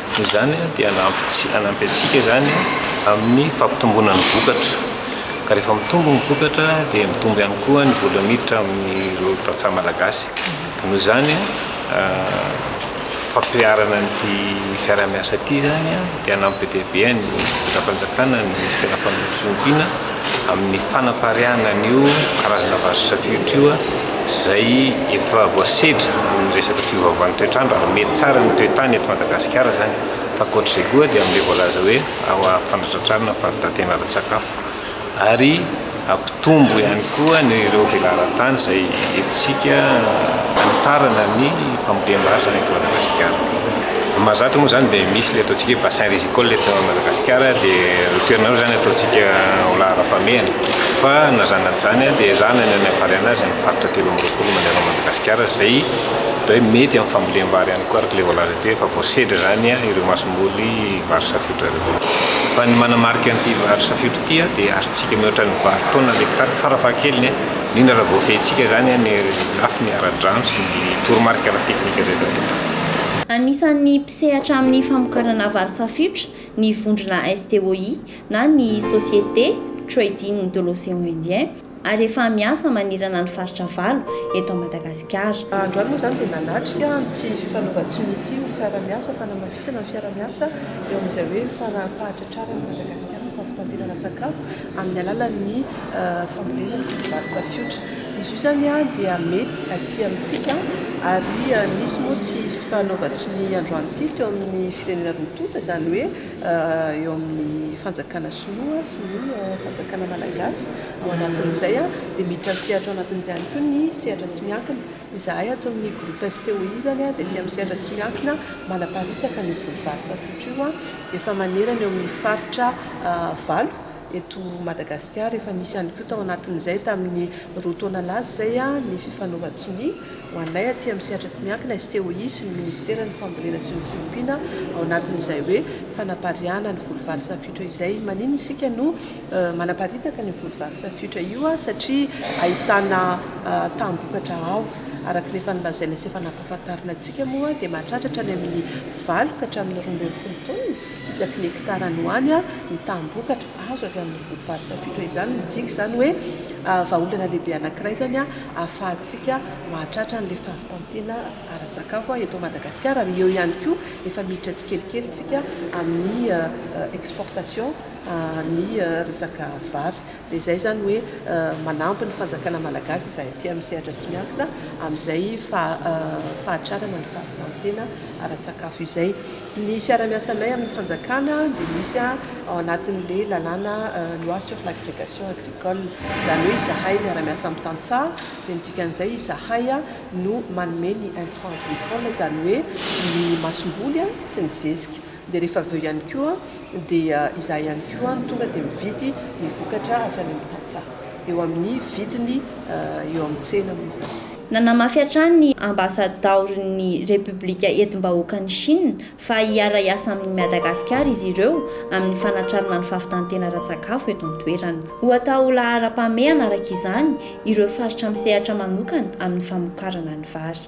Noho izany dia hanampy antsika izany amin'ny fampitomboana ny vokatra, ka rehefa mitombo ny vokatra dia mitombo ihany koa ny vola miditra amin'ireo tantsaha malagasy, ka noho izany fampiharana an'ity fiaraha-miasa ity izany dia hanampy be dia be an'ny fitondram-panjakana ny Minisiteran'ny Fampiroboroboana. amin'ny fanapariahana an'io karazana vazo safiotry io izay efa voasedra amin'ny resaka fiovaovan'ny toetr'andro ary mety tsara ny toe-tany eto Madagasikara izany fa ankoatr'izay koa dia amin'ilay voalaza hoe fanatratrarana ny fahavitantena ara-tsakafo ary hampitombo ihany koa ny ireo velaran-tany izay entintsika hanitarana ny fambolem-barotra ny eto Madagasikara. Ny mahazatra moa izany dia misy ilay ataontsika hoe bassin risicole eto Madagasikara dia ireo toerana ireo izany ataontsika ho laharam-pahamehana fa na izany na tsy izany dia ezahina ny hanapariahana azy ny faritra telo amby roapolo mandeha anao Madagasikara izay atao hoe mety amin'ny fambolem-bary ihany koa araka ilay voalaza teo efa voasedra izany ireo masomboly vary safiotra ireo. Fa ny manamarika an'ity vary safiotra ity dia azontsika mihoatra ny valo taonina ny hekitara farafahakeliny. indrindra raha voafehintsika izany ny lafiny ara-drano sy ny toromarika ara-teknika rehetrarehetra. Anisan'ny mpisehatra amin'ny famokarana vary safiotra ny vondrona STOI na ny Société Trading de l'Océan Indien ary efa miasa manerana ny faritra valo eto Madagasikara. Androany moa izany dia nanatrika ity fifanaovan-tsiny ity ny fiaraha-miasa fanamafisana ny fiaraha-miasa eo amin'izay hoe fahatratraran'i Madagasikara ny fahavitam-pihinana-tsakafo amin'ny alalan'ny fambolena ny vary safiotra. Izy io zany dia mety aty amintsika ary misy moa tsy fanaovan-tsy ny androany ity teo amin'ny firenena roa tonta izany hoe eo amin'ny fanjakana sinoa sy ny fanjakana malagasy. Ao anatin'izay dia miditra an-tsehatra ao anatin'izay ihany koa ny sehatra tsy miankina. Izahay ato amin'ny groupe STOI izany dia aty amin'ny sehatra tsy miankina manaparitaka ny voly vary safiotra io. Efa manerana eo amin'ny faritra valo eto Madagasikara. Efa nisy ihany koa tao anatin'izay tamin'ny roa taona lasa izay ny fifanaovan-tsonia ho anay aty amin'ny sehatra tsy miankina sy te ho hisy ny Ministeran'ny fambolena sy ny fiompiana ao anatin'izay hoe fanapariahana ny voly vary safiotra izay. Maninona isika no manaparitaka an'io voly vary safiotra io satria ahitana taham-bokatra avo araka ny efa nolazaina sy efa nampahafantarina antsika moa dia mahatratratra any amin'ny valo ka hatramin'ny roa ambin'ny folo taonina Isaky ny hektara any ho any, ny taham-bokatra azo avy amin'ny voankazo safiditra izany, midika izany hoe vahaolana lehibe anankiray izany ahafahantsika mahatratra an'ilay fahavitan-tena ara-tsakafo eto Madagasikara ary eo ihany koa efa miditra tsikelikely isika amin'ny exportation ny resaka vary dia izay izany hoe manampy ny fanjakana malagasy izay aty amin'ny sehatra tsy miankina amin'izay fahatrarana ny fahavitan-tena ara-tsakafo izay. Ny fiarahamiasanay amin'ny fanjakana dia misy ao anatin'ilay lalàna Loi sur l'agrégation agricole. Izany hoe izahay miara-miasa amin'ny tantsaha, dia ny dikan'izay izahay no manome ny intrant agricole, izany hoe ny masomboly sy ny zezika. Dia rehefa avy eo ihany koa dia izahay ihany koa no tonga dia mividy ny vokatra avy any amin'ny tantsaha eo amin'ny vidiny eo amin'ny tsena moa izany. Nanamafy hatrany ny Ambasadaoron'ny Repoblika Entim-bahoakan'i Shina fa hiara-hiasa amin'i Madagasikara izy ireo amin'ny fanatrarana ny fahavitan-tena ara-tsakafo eto an-toerana. Ho atao ho laharam-pahamehana araka izany ireo faritra misehatra manokana amin'ny famokarana ny vary.